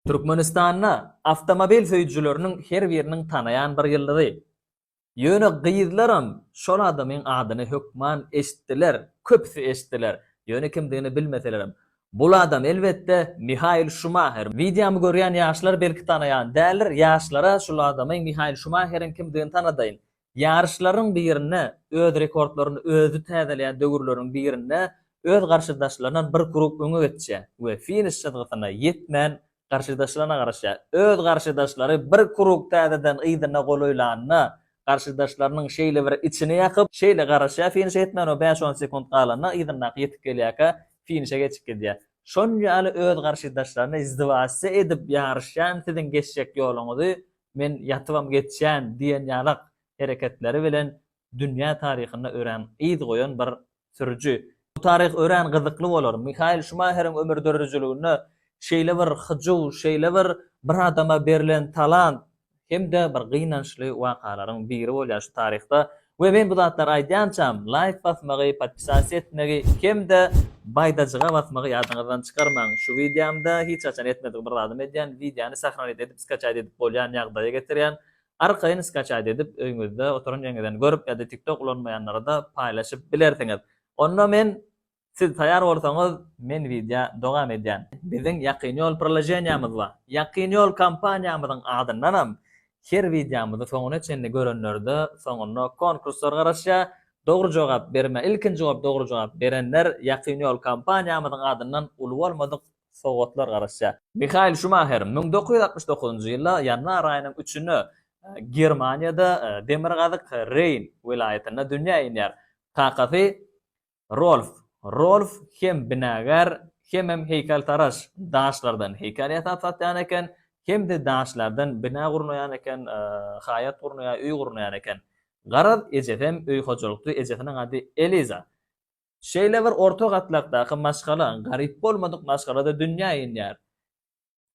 Türkmenistanda awtomobil söýüjileriniň her biriniň tanaýan bir ýyldyzy. Ýöne gyzlaram şol adamyň adyny hökman eşitdiler, köpüsi eşitdiler, ýöne kimdigini bilmeselerem. Bul adam, elbetde, Mihael Şumaher. Wideomy görýän ýaşlar belki tanaýan däldir, ýaşlara şul adamy Mihael Şumaheriň kimdigini tanadaýyn. Ýaryşlaryň birinde öz rekordlaryny özi täzeleýän döwürleriň birinde öz garşydaşlaryndan bir grup öňe geçýär we finiş çyzgysyna ýetmän garşydaşlaryna garaşýar. Öz garşydaşlary bir grup täzeden yzyna golaýlanda, garşydaşlarynyň şeýlebir içini ýakyp, şeýle garaşýar finişe ýetmän we bäş-on sekunt galanda yzyndaky ýetip gelýärkä finişe geçip gidýär. Şol ýaly öz garşydaşlaryny izdivasiýa edip ýaryşýan siziň geçjek ýoluňyzy men ýatybam geçýän diýen ýalak hereketleri bilen dünýä taryhynda örän yz goýan bir sürüji. Bu taryh örän gyzykly bolar. Mihael Şumaheriň ömür döredijiliginde şeýle bir hyjuw, şeýle bir bir adama berlen talant hem-de bir gynançly wakalaryň biri bolýar şu taryhda. We men bu zatlary aýdýançam, laýk basmagy, podpisasiýa etmegi hem-de baýdajyga basmagy ýadyňyzdan çykarmaň. Şu wideomda hiç haçan etmedik bir zadym edýän, wideony sahranit edip skaçaýt edip bolýan ýagdaýa getirýän. Arkaýyn skaçaýt edip öýňüzde oturan ýeriňizden görüp ýa-da tiktok ulanmaýanlara-da paýlaşyp bilersiňiz. Onda men Siz taýar bolsaňyz men wideo dowam edýän. Biziň Ýakyn Ýol priloženiýamyz bar. Ýakyn Ýol kompaniýamyzyň adyndanam her wideomyzy soňuna çenli görenlerde soňunda konkurslar garaşýar. Dogry jogap berme ilkinji bolup dogry jogap berenler Ýakyn Ýol kompaniýamyzyň adyndan uly bolmadyk sowgatlar garaşýar. Mihael Şumaher müň dokuz ýüz altmyş dokuzynjy ýylda ýanwar aýynyň üçünde Germaniýada demirgazyk Reýn welaýatynda dünýä inýär. Kakasy Rolf. Rolf hem binagär, hemem heýkeltaraş. Daşlardan heýkel ýasap satýan eken, hem-de daşlardan bina gurnaýan eken, haýat gurnaýar, öý gurnaýar eken. Garaz, ejesem öý hojalykçy, ejesiniň ady Eliza. Şeýle bir orta gatlakdaky maşgala, garyp bolmadyk maşgala-da dünýä inýär.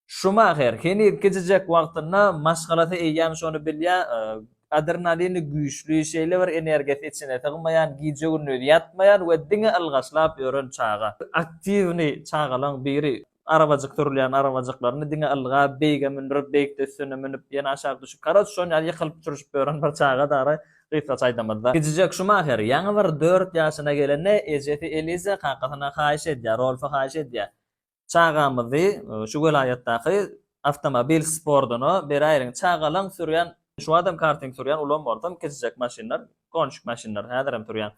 Şumaher heniz kiçijek wagtynda maşgalasy eýýäm şony bilýär, adrenalini güýçli, şeýle bir energiýasy içine sygmaýan, gije-gündiz ýatmaýan we diňe ylgaşlap ýören çaga. Aktiwny çagalaň biri. Arabajyk sürülýän arabajyklaryny diňe ylga, beýige mündürip, beýikde üstüne münüp, ýene aşak düşüp, karoç, şon ýaly ýykylyp-çürşüp ýören bir çaga dara, gysgaça aýdamyzda. Kiçijek Şumaher ýaňy bir dört ýaşyna gelende, ejesi Eliza kakasyna haýyş edýär, Rolfy haýyş edýär, Çagamyzy şu welaýatdaky awtomobil sportuna beräýeliň. Çagalaň sürýän, şu wagtam karting sürýän, ulam bolsam kiçijek maşynlar, konjik maşynlar häzirem sürýän.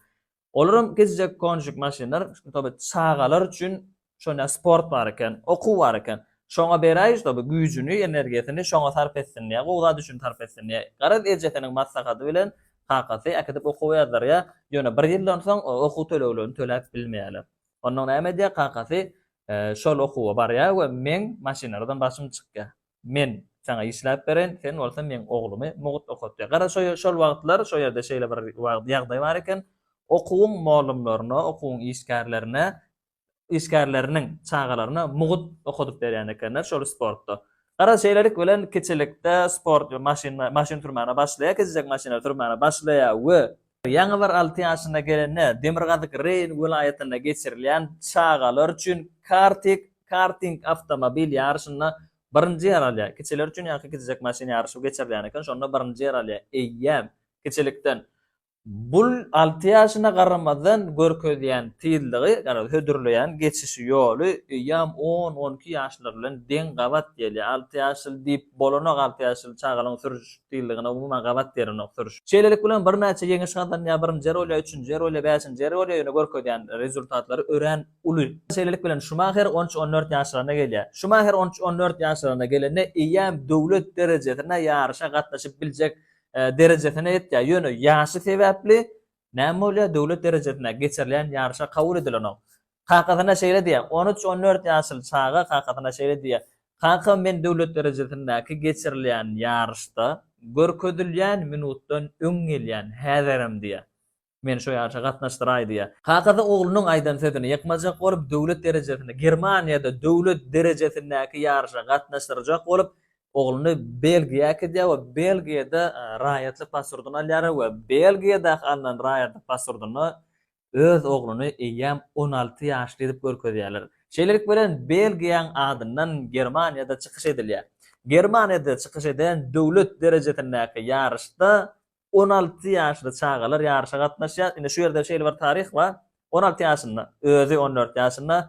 Olaram kiçijek konjik maşynlar, şuny çagalar üçin şonda sport bar eken, okuw bar eken. Şoňa beräýiň şuny güýjüni, energiýasyny şoňa sarp etsin diýýä, gowy zat üçin sarp etsin diýýä. Garaz ejesiniň maslahaty bilen kakasy äkidip okuwa ýazdyrýa, ýöne bir ýyldan soň okuw töleglerini töläp bilmeýäler. Onda näme edýär kakasy? Şol okuwa barýar we meň maşynlardan başym çykýar. Men saňa işläp bereýin, sen bolsa meň oglumy mugt okatýar. Gara şol wagtlar şo ýerde şeýle bir ýagdaý bar eken, okuwyň mollumlaryna, okuwyň işgärlerine, işgärleriniň çagalaryna mugt okadyp berýän ekenler şol sportda. Gara şeýlelik bilen kiçilikde sport maşyn maşyn sürmäne başlaýar, kiçijek maşynlar sürmäne başlaýar we Ýaňy bir alty ýaşyna gelende Demirgazyk Reýn welaýatynda geçirilýän çagalar üçin kartik, karting, awtomobil ýaryşynda birinji ýer alýar. Kiçiler üçin ýaňky kiçijek maşyn ýaryşy geçirilýän eken, şonda birinji ýer alýar. Eýýäm, kiçilikden bul alty ýaşyna garamazdan görkezýän tyzlygy, ýagny hödürleýän geçişi ýoly eýýäm on, on iki ýaşlar bilen deň gabat gelýär. Alty ýaşly diýip bolanok, alty ýaşly çagalaryň sürüş diýildigine umuman gabat gerenok sürüş. Şeýlelik bilen birnäçe ýeňiş gazanýar, birinji ýerolýa, üçünji ýerolýa, bäşinji ýerolýa ýöne görkezýän rezultatlary örän uly. Şeýlelik bilen Şumaher on üç-on dört ýaşlaryna gelýär. Şumaher on üç-on dört ýaşlaryna gelende eýýäm döwlet derejesinde ýaryşa gatnaşyp biljek derejesine ýetýär, ýöne ýaşy sebäpli näme bolýar, döwlet derejesinde geçirilýän ýaryşa kabul edilenok. Kakasyna şeýle diýýär, On üç, on dört ýaşly çaga kakasyna şeýle diýýär, Kaka, men döwlet derejesindäki geçirilýän ýaryşda görkezilýän minutdan öň gelýän, häzirem diýýär. Meni şu ýaryşa gatnaşdyraý diýýär. Kakasy oglunyň aýdan sözüni ýykmajak bolup, döwlet derejesinde, Germaniýada döwlet derejesindäki ýaryşa gatnaşdyrjak bolup, ogluny Belgiýa äkidýär we Belgiýada raýatlyk paswrtyny alýar we Belgiýadaky alnan raýatlyk paswrtyny öz ogluny eýýäm on alty ýaşly edip görkezýärler. Şeýlelik bilen Belgiýaň adyndan Germaniýada çykyş edilýär. Germaniýada çykyş eden döwlet derejesindäki ýaryşda on alty ýaşly çagalar ýaryşa gatnaşýar. Indi şu ýerde şeýle bir taryh bar, on alty ýaşynda, özi on dört ýaşynda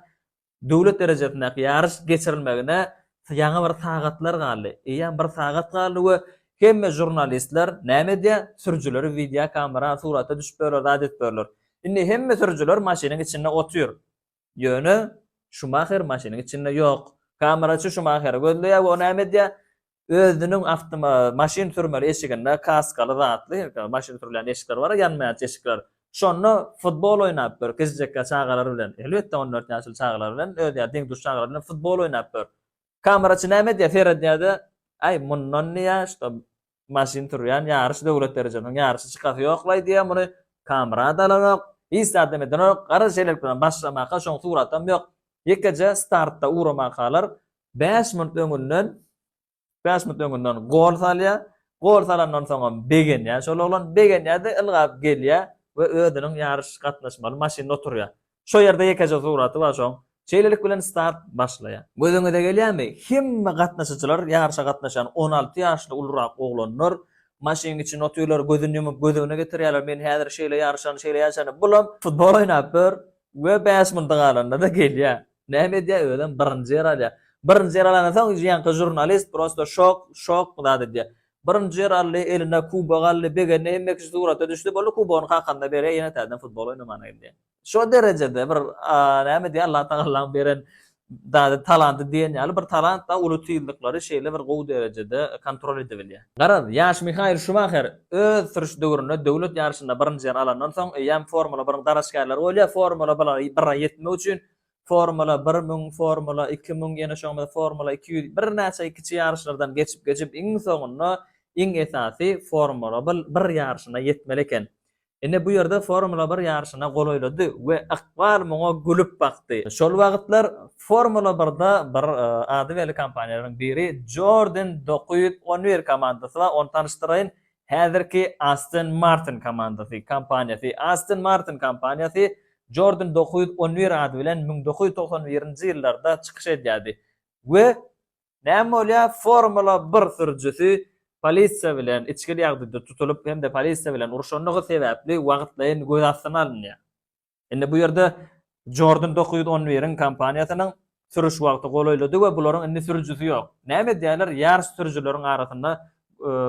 Döwlet derejesindäki ýaryş geçirilmegine ýaňy bir sagatlar galdy. Eýýäm bir sagat galdy we hemme žurnalistler näme edýär? Sürüjileri wideokamera surata düşüp ýörler, zat edip ýörler. Indi hemme sürüjiler maşynyň içinde otyr. Ýöne Şumaher maşynyň içinde ýok. Kameraçy Şumaheri gözleýär we o näme edýär? Özüniň awtoma maşyn sürmeli eşiginde kaskaly zatly, maşyn sürülýän eşikler bar-a, ýanmaýan eşikler. Şonda futbol oýnap ýör, kiçijekkä çagalar bilen. Elbetde, on dört ýaşly çagalar bilen, özi ýaly deň-duş çagalar bilen futbol oýnap ýör. Kameraçy näme edýär? Seredýär-de, Äý, mundan diýýär, şuda maşyn sürýän ýaryş, döwlet derejesiniň ýaryşy çykasy ýok-laý diýýär, muny kamera-da alanok, hiç zadam edenok, gara şeýlelik bilen başlamaka, şoň suratam ýok. Ýekeje startda uramakalar, bäş minut öňünden, bäş minut öňünden gol salýar. Gol salandan soňam begenýär şol oglan. Begenýär-de ylgap gelýär we özüniň ýaryş gatnaşmaly maşynyna oturýar. Şo ýerde ýekeje suraty bar şoň. Şeýlelik bilen start başlaýar. Gözüňize gelýärmi? Hemme gatnaşyjylar, ýaryşa gatnaşýan on alty ýaşly ulurak oglanlar maşynyň içinde otyrlar, gözüni ýumup göz öňüne getirýärler, men häzir şeýle ýaryşany, şeýle ýaryşany, bulam futbol oýnap ýör we bäş minuty galanda-da gelýär. Näme edýär özem birinji ýer alýar. Birinji ýer alanda soň ýaňky žurnalist prosta şok şok bu zat edýär. Birinji ýer aldy, eline kubok aldy, begendi, hemme kişi surata düşdi, boldy kubogyny kakanyna berýär, ýene täzeden futbol oýnamana gidýär. Şo derejede bir näme diýýär Allah tagallaň beren zady talanty diýen ýaly bir talant-da uly tizlikleri şeýle bir gowy derejede kontrol edebilýär. Garaz, ýaş Mihael Şumaher Öz süriş döwründe döwlet ýaryşynda birinji ýer alandan soň, eýýäm Formula biriň dalaşgärleri bolýar. Formula bira ýetmek üçin Formula bir müň, Formula iki müň, ýene şoňa meňzeş Formula iki ýüz, birnäçe kiçi ýaryşlardan geçip-geçip, iň soňunda iň esasy Formula bir ýaryşyna ýetmeli eken. Ine bu ýerde Formula bir ýaryşyna golaýlady we ykbal muňa gülüp bakdy. Şol wagtlar Formula birde bir ady belli kompaniýalaryň biri Jordan dokuz ýüz on bir komandasy bar, ony tanyşdyraýyn, häzirki Aston Martin komandasy, kompaniýasy. Aston Martin kompaniýasy Jordan dokuz ýüz on bir ady bilen müň dokuz ýüz togsan birinji ýyllarda çykyş edýärdi we Näme bolýar? Formula bir sürüjisi polisiýa bilen içgili ýagdaýda tutulyp hem-de polisiýa bilen urşandygy sebäpli wagtlaýyn göz astyna alynýar. Indi bu ýerde Jordan dokuz ýüz on biriň kompaniýasynyň sürüş wagty golaýlady we bularyň indi sürüjisi ýok. Näme edýärler? Ýaryş sürüjileriň arasynda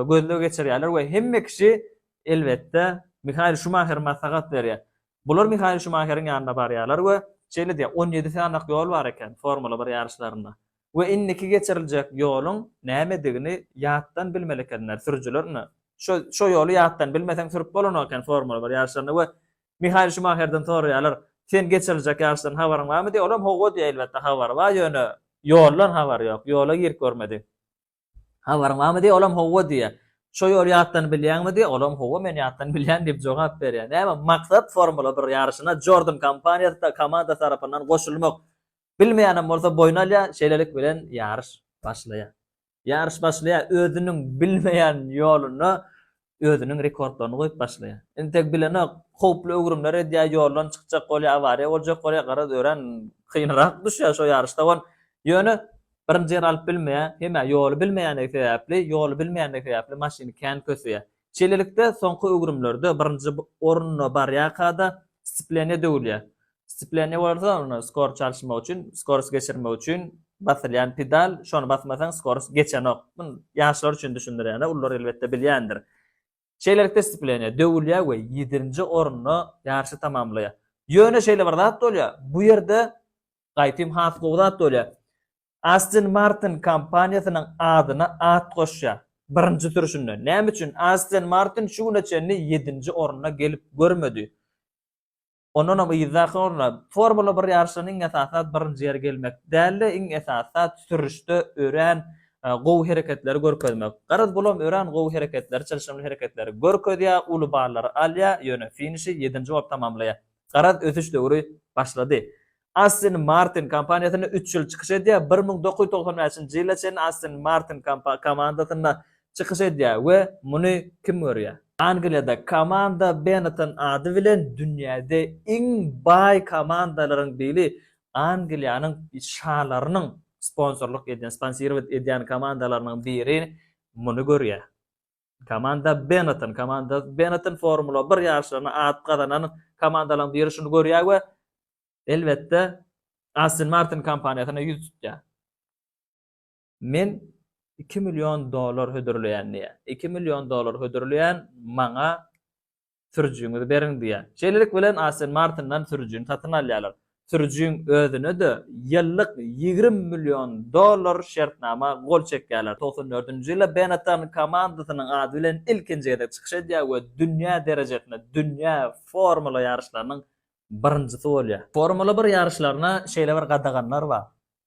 gözleg geçirýärler we hemme kişi elbetde Mihael Şumaher maslahat berýär. Bular Mihael Şumaheriň ýanyna barýarlar we şeýle diýýär, On ýedi sanak ýol bar eken Formula bir ýaryşlarynda. we indiki geçiriljek ýoluň nämedigini ýatdan bilmeli ekenler sürüjiler ine şo şo ýoly ýatdan bilmeseň sürüp bolanok eken formula bir ýaryşlarynda we Mihail Şumaherden soraýarlar sen geçiriljek ýaryşdan habaryň barmy diýip olam howwa diýýär elbetde habary bar ýöne ýoldan habary ýok ýola girip görmedi. Habaryň barmy diýýär, olam hawa diýýär. Şo ýoly ýatdan bilýäňmi diýýär, olam hawa men ýatdan bilýän diýip jogap berýär. Näme maksat Formula bir ýaryşyna Jordan kompaniýasy komandasy tarapyndan goşulmak. Bilmeýänem bolsa boýun alýar, şeýlelik bilen ýaryş başlaýar. Ýaryş başlaýar, özüniň bilmeýän ýoluna özüniň rekordlaryny goýup başlaýar. Entek bilenok, howply öwrümler edýär, ýoldan çykjak bolýar, awariýa boljak bolýar, garaz örän kynrak düşýär şo ýaryşda gon. Ýöne birinji ýeri alyp bilmeýär, hemä ýoly bilmeýändigi sebäpli, ýoly bilmeýändigi sebäpli maşyny kän köseýär. Şeýlelikde, soňky öwrümlerde birinji orunda barýarka-da, stsipleniýa döwülýär. Scipleniýa bolsa ony skor çalyşmak üçin, skors geçirmek üçin basylýan pedal, şony basmasaň skors geçenok. Muny ýaşlar üçin düşündirýän-ä, ulular elbetde bilýändir. Şeýlelikde scipleniýa döwülýär we ýedinji orunda ýaryşy tamamlaýar. Ýöne şeýle bir zat bolýar, bu ýerde gaýpym has gowy zat bolýar. Aston Martin kompaniýasynyň adyna at goşýar birinji sürüşinde. Näme üçin? Aston Martin şu güne çenli ýedinji orunda gelip görmedi. Ondanam yzdaky orna, Formula bir ýaryşynda iň esasy zat birinji ýere gelmek däl-de, iň esasy zat sürüşde örän gowy hereketleri görkezmek. Garaz, bulam örän gowy hereketleri, çylşyrymly hereketleri görkezýär, uly ballary alýar, ýöne finişi ýedinji bolup tamamlaýar. Garaz, ösüş döwri başlady. Aston Martin kompaniýasynda üç ýyl çykyş edýär. Bir müň dokuz ýüz togsan bäşinji ýyla çenli Aston Martin komandasynda çykyş edýär we muny kim görýär? Angliýada komanda Benetton ady bilen dünýäde iň baý komandalaryň biri Angliýanyň şalarynyň sponsorlyk edýän, sponsirować edýän komandalarynyň biri muny görýär. Komanda Benetton Komanda Benetton Formula bir ýaryşlarynda at gazanan komandalaryň biri şuny görýär we elbetde Aston Martin kompaniýasyna ýüz tutýar. Men iki million dollar hödürleýän diýýär. Iki million dollar hödürleýän maňa sürüjiňizi beriň diýýär. Şeýlelik bilen Aston Martin-dan sürüjini satyn alýarlar. Sürüjiň özüne-de ýyllyk ýigrimi million dollar şertnama gol çekýärler. Togsan dördünji ýylda Benetton komandasynyň ady bilen ilkinji gezek çykyş edýär we dünýä derejesinde dünýä formula ýaryşlarynyň birinjisi bolýar. Formula bir ýaryşlaryna şeýle bir gadaganlar bar.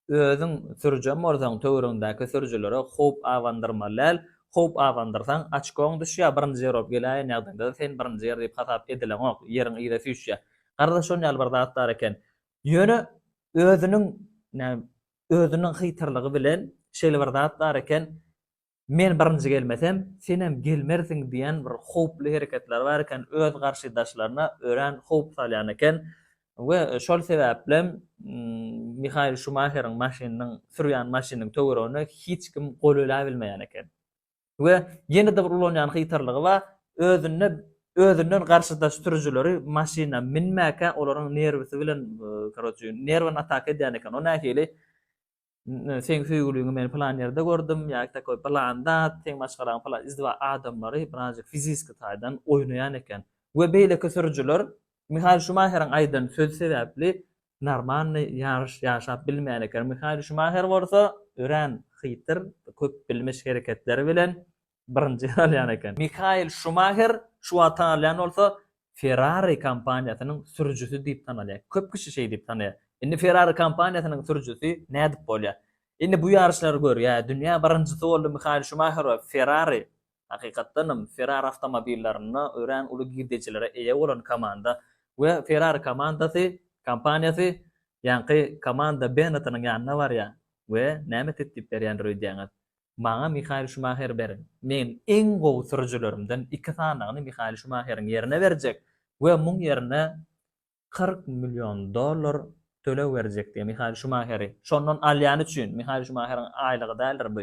Özüň sürüjäm bolsaň töwrüňdäki sürüjilere howp abandyrmaly däl, howp abandyrsaň açkoň düşýär birinji ýer bolup geläýen ýagdaýyňda-da sen birinji ýer diýip hasap edileňok, ýeriň yza süýşýär. Gardaş şon ýaly bir zat bar eken. Ýöne özüniň, näme, özüniň hytyrlygy bilen şeýle bir zat bar eken, Men birinji gelmesem, senem gelmersiň diýen bir howply hereketleri bar eken, öz garşydaşlaryna örän howp salýan eken we şol sebäplem Mihael Şumaheriň maşynynyň, sürýän maşynynyň töweregine hiç kim gol eläbilmeýän eken. We ýene-de bir ulanýan hytrlygy bar, özünde özünden garşydaş sürüjileri maşyna minmäkä olaryň nerwisi bilen, karoçi, nerwini ataka edýän eken, o nähili, Seň söýgüliňi men plan ýerde gördüm ýa takoý plan zat, seň maşgalaň plan izdiwa adamlary birazjyk fiziski taýdan oýnaýan eken. We beýleki sürüjiler Mihael Şumaheriň aýdan sözi sebäpli normalny ýaryş ýaşap bilmeýän eken. Mihael Şumaher bolsa örän hytyr, köpbilmiş hereketleri bilen birinji italýan eken. Mihael Şumaher şu wagt tanalýan bolsa, Ferrari kompaniýasynyň sürüjisi diýip tanalýar. Köp kişi şeý diýip tanaýar. Indi Ferrari kompaniýasynyň sürüjisi nädip bolýar? Indi bu ýaryşlary gör, ýa dünýä birinjisi boldy Mihael Şumaher we Ferrari, hakykatdan hem Ferrari awtomobillerinde örän uly girdejilere eýe bolan komanda we Ferrari komandasy, kompaniýasy ýaňky komanda Bennettiniň ýanyna barýar we näme teklip berýändir öýdýäňiz? Maňa Mihael Şumaher beriň. Men iň gowy sürüjilerimden iki sanagyny Mihael Şumaheriň ýerine berjek we muň ýerine kyrk million dollar töleg berjek diýýär. Mihael Şumaheri şondan alýany üçin, Mihael Şumaheriň aýlygy däldir bu,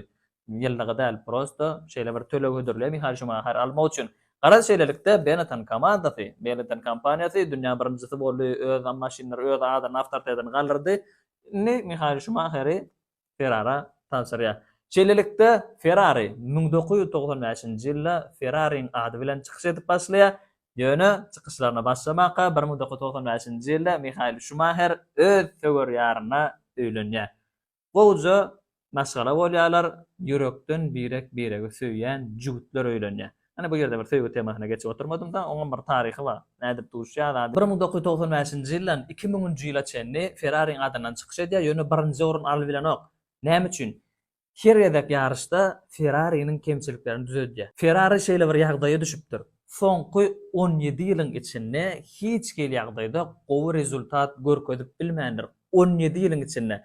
ýyllygy däl, prosto şeýle bir töleg hödürleýär Mihael Şumaheri almak üçin. Garaz, şeýlelikde Benetton komandasy, Benetton kompaniýasy dünýä birinjisi boldy, öz maşynlary öz adyny, awtoritetini galdyrdy. Indi Mihael Şumaheri Ferrara tabşyrýar. Şeýlelikde, Ferrari müň dokuz ýüz togsan bäşinji ýylda Ferrariň ady bilen çykyş edip başlaýar, ýöne çykyşlaryna başlamaka bir müň dokuz ýüz togsan bäşinji ýylda Mihael Şumaher öz söwer ýaryna öýlenýär. Gowja maşgala bolýarlar, ýürekden birek-biregi söýýän jübütler öýlenýär. Ine, bu ýerde bir söýgi temasyna geçip oturmadym-da, oňam bir taryhy bar. Nädip duşýar zady? Bir müň dokuz ýüz togsan bäşinji ýyldan iki müňünji ýyla çenli Ferrariň adyndan çykyş edýär, ýöne birinji orun alybilenok. Näme üçin? Her gezek ýaryşda Ferrariniň kemçiliklerini düzedýär. Ferrari şeýle bir ýagdaýa düşüpdir, soňky on ýedi ýylyň içinde hiç hili ýagdaýda gowy rezultat görkezip bilmändir. On ýedi ýylyň içinde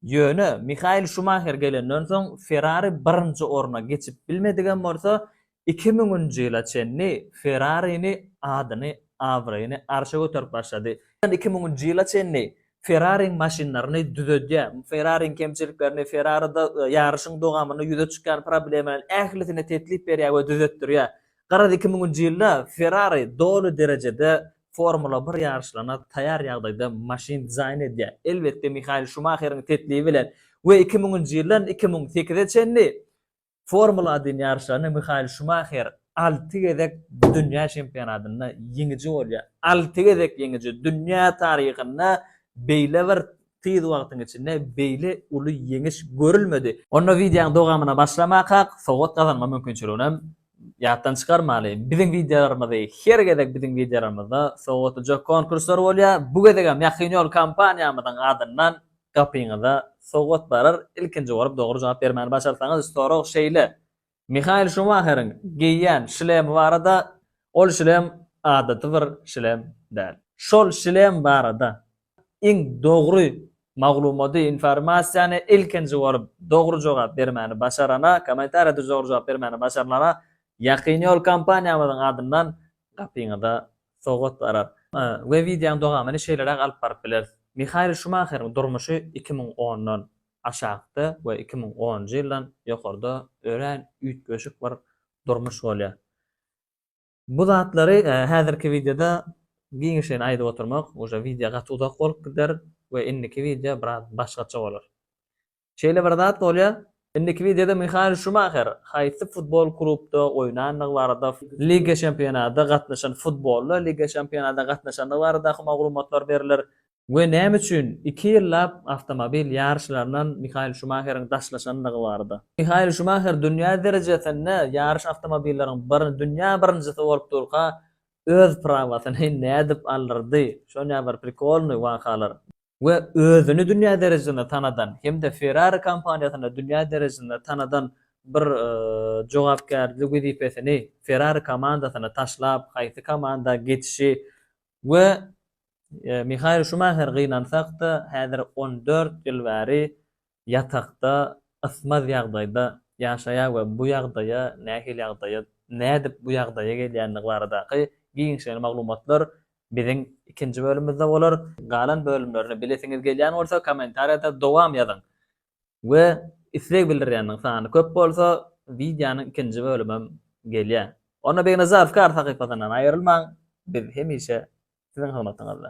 Ýöne Mihael Şumaher gelenden soň Ferrari birinji orna geçip bilmedigem bolsa, iki müňünji ýyla çenli Ferrarini adyny, abraýyny arşa göterip başlady. Iki müňünji ýyla çenli Ferrariň maşynlaryny düzedýär. Ferrariň kemçiliklerini, Ferrarida ýaryşyň dowamynda ýüze çykýan problemalaryň ählisini teklip berýär we düzetdirýär. Garaz iki müňünji ýylda Ferrari doly derejede Formula bir ýaryşlaryna taýar ýagdaýda maşyn dizaýn edýär. Elbetde Mihael Şumaheriň teklibi bilen we iki müňünji ýyldan iki müň sekize çenli Formula adin ýaryşlaryny Mihael Şumaher alty gezek dünýä çempionatynda ýeňiji bolýar. Alty gezek ýeňiji dünýä taryhynda beýle bir Tiz wagtyň içinde beýle uly ýeňiş görülmedi. Onda wideoň dogamyna başlamakak sowgat gazanma mümkinçiliginem ýatdan çykarmaly. Biziň wideolarymyzy her gezek biziň wideolarymyzda sowgatlyjak konkurslar bolýar. Bu gezegem Ýakyn ýol kompaniýamyzyň adyndan gapyňyza sowgat barar. Ilkinji bolup dogry jogap bermäni başarsaňyz sorag şeýle, Mihael Şumaheriň geýýän şlemi barada, Ol şlem adaty bir şlem däl. Şol şlem barada iň dogry maglumaty, informasiýany ilkinji bolup dogry jogap bermäni başarana, kommentariýa düz dogry jogap bermäni başarlana Ýakyn ýol kompaniýamyzyň adyndan gapyňyza sowgat barar. We wideonyň dowamyny şeýleräk alyp baryp bileris. Mihael Şumaheriň durmuşy iki müň ondan. aşakda we iki müň onunjy ýyldan ýokarda örän üýtgeşik bir durmuş bolýar. Bu zatlary häzirki wideoda giňişleýin aýdyp oturmak uje wideo gaty uzak bolup gider we indiki wideo biraz başgaça bolar. Şeýle bir zat bolýar, indiki wideoda Mihael Şumaher haýsy futbol klubda oýnandygy barada, Liga Çempionada gatnaşan futbolda Liga Çempionada gatnaşandygy baradaky maglumatlar berler, we näme üçin iki ýyllap awtomobil ýaryşlaryndan Mihael Şumaheriň daşlaşandygy barada. Mihael Şumaher dünýä derejesinde ýaryş awtomobilleriň bir dünýä birinjisi bolup durka öz prawasyny nädip aldyrdy, şonýa bir prikolnyý wakalar. We özüni dünýä derejesinde tanadan hem-de Ferrari kompaniýasyny dünýä derejesinde tanadan bir jogapkärli wezipesini Ferrari komandasyny taşlap haýsy komanda geçişi We Mihael Şumaher gynansak-da, häzir on dört ýyl bäri ýatakda ysmaz ýagdaýda ýaşaýar we bu ýagdaýa, nähili ýagdaýa, nädip bu ýagdaýa gelýändigi baradaky giňişleýin maglumatlar biziň ikinji bölümimizde bolar. Galan bölümlerini bilesiňiz gelýän bolsa, kommentariýada dowam ýazyň. we isleg bildirýänleriň sany köp bolsa, wideonyň ikinji bölümem gelýär. Onda Begnazarow kar sahypasyndan aýrylmaň, biz hemişe siziň hyzmatyňyzda.